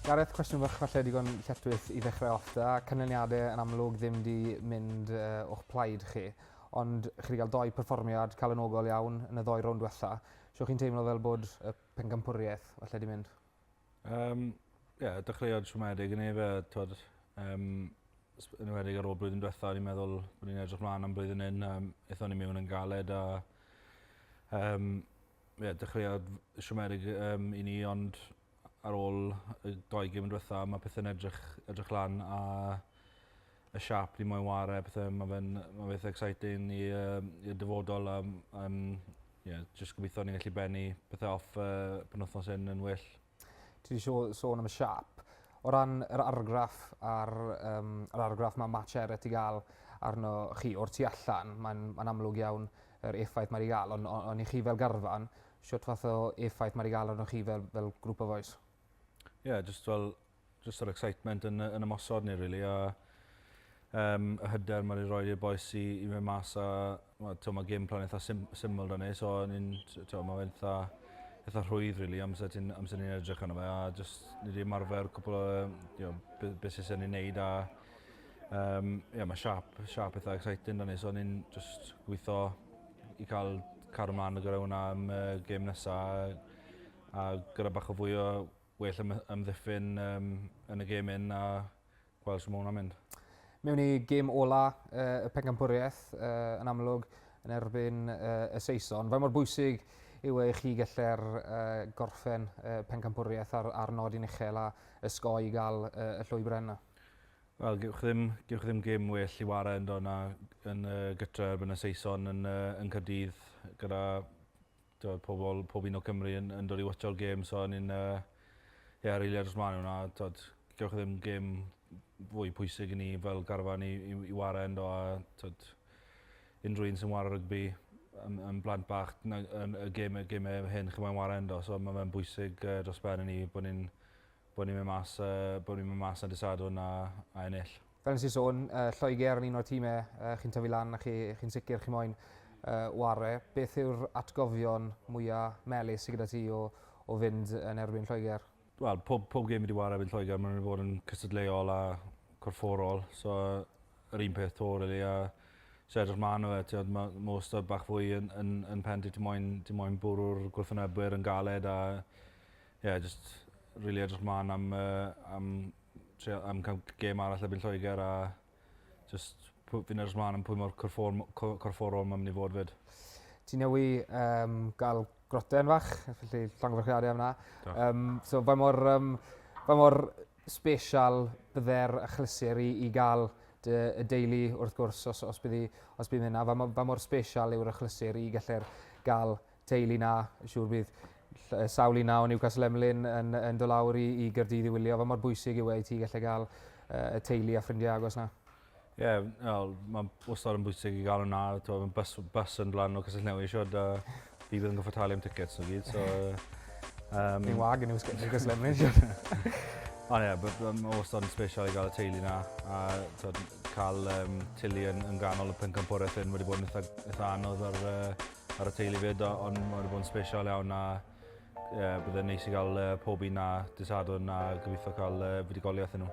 Gareth, cwestiwn fach falle digon lletwys i ddechrau off da. Cynlyniadau yn amlwg ddim di mynd uh, o'ch plaid chi, ond chi wedi cael doi perfformiad cael yn ogol iawn yn y ddoi rownd diwetha. Siwch chi'n teimlo fel bod y pencampwriaeth falle di mynd? Yym ie dechreuad siomedig o'n i efo t'wod yym s- yn enwedig ar ôl blwyddyn dwetha o'n i'n meddwl o'n i'n edrych mlan am blwyddyn 'yn yym aethon ni mewn yn galed a yym ie dechreuad siomedig yym i ni ond ar ôl y dou gêm dwetha ma' pethe'n edrych edrych lan a y siâp dwi moyn ware a pethe ma' fe'n ma'n beth exciting i yym i'r dyfodol yym yym ie jyst gobeithio ni gallu bennu pethe off y penwthnos 'yn yn well. Ti 'di sho- sôn am y siâp. O ran yr argraff a'r yym yr argraff ma' Matt Sherratt 'di ga'l arno chi o'r tu allan mae'n ma'n amlwg iawn yr effaith mae 'di ga'l on' o- on' i chi fel garfan shwt fath o effaith ma' 'di ga'l arnoch chi fel fel grŵp o fois? Ie jyst fel jyst yr excitement yn yn ymosod ni rili a um, y hyder mae wedi rhoi i'r boes i, i mynd mas a to, mae gêm plan eitha sim, syml da ni, so ni'n, to, mae fe'n eitha, eitha rhwydd rili amser, ti'n, amser ni'n edrych arno fe a just ni wedi ymarfer cwpl o you know, beth sy'n ni'n neud a um, yeah, mae siap, siap eitha exciting da ni, so ni'n just gweithio i cael cario mlaen gyda hwnna am uh, gêm nesaf a, a gyda bach o fwy o well am- amddiffyn yym yn y gêm hyn a gwel' shw ma' wnna'n mynd. Mewn i gêm ola yy y pencampwrieth yy yn amlwg yn erbyn yy y Saeson, faint mor bwysig yw e i chi gelle'r yy gorffen y pencampwrieth ar ar nodyn uchel a ysgoi i ga'l y y llwybre yna? Wel gewch chi ddim gewch chi ddim gêm well i ware yndo na yn y gytre erbyn y Saeson yn yy yn Cardydd gyda T'wod pobol pob un o Cymru yn yn dod i watsio'r gêm so o'n i'n yy ie rili edrych mlan i wnna a t'wod gewch chi ddim gêm fwy pwysig i ni fel garfan i i i ware yndo a t'wod unryw un sy'n ware rygbi yn yn blant bach nag- yn y geme geme hyn chi moyn ware yndo so ma' fe'n bwysig yy dros ben i ni bo' ni'n Bod ni'n mynd mas yy bod ni'n mynd mas ar dy' Sadwrn a a ennill. Fel nes i sôn yy Lloegr yn un o'r time yy chi'n tyfu lan a chi chi'n sicr chi moyn yy ware'. Beth yw'r atgofion mwya' melys sy gyda ti o o fynd yn erbyn Lloegr? Wel pob pob gêm fi 'di ware' erbyn Lloegr ma' n'w 'di bod yn cystadleuol a corfforol so yr un peth 'to rili a so edrych mlan ar fe t'wod ma' ma' wastad bach fwy yn yn yn pen di ti moyn ti moyn bwrw'r gwrthwnebwyr yn galed a Ie jyst rili edrych mlan am yy am trio am ca'l g- gêm arall erbyn Lloeger a jyst pw- fi'n edrych mlan am pwy mor corffom- co- corfforol ma' myn' i fod 'fyd. Ti newy yym ga'l groten fach felly llongyfarchiade am 'na. Diolch. Yym so faint mor yym faint mor sbesial bydde'r achlysur i i ga'l dy y deulu wrth gwrs os os bydd 'i os bydd 'na faint mo- faint mor sbesial yw'r achlysur i gellir ga'l teulu 'na, siŵr bydd sawl un na o Newcastle Emlyn yn, yn dod lawr i, i Gyrdydd i wylio, fe mor bwysig yw e i ti gallu cael uh, y teulu a ffrindiau agos na. Ie, yeah, well, mae'n wastad yn bwysig i gael hwnna, mae'n bus, bus yn dlan o Cysell Newydd siwr, da fi bydd yn goffa talu am tickets o gyd, so... Um, Ni'n wag yn Cysell Emlyn siwr. Ond ie, mae'n wastad yn special i gael y teulu na, a cael um, tili yn, yn ganol y pencampwraeth hyn wedi bod yn eitha, eitha anodd ar uh, Ar y teulu fyd ond mae wedi bod yn special iawn a ie bydde'n neis i gael yy pob un a dydd Sadwrn a gobeithio cael yy fuddugoliaeth i nhw.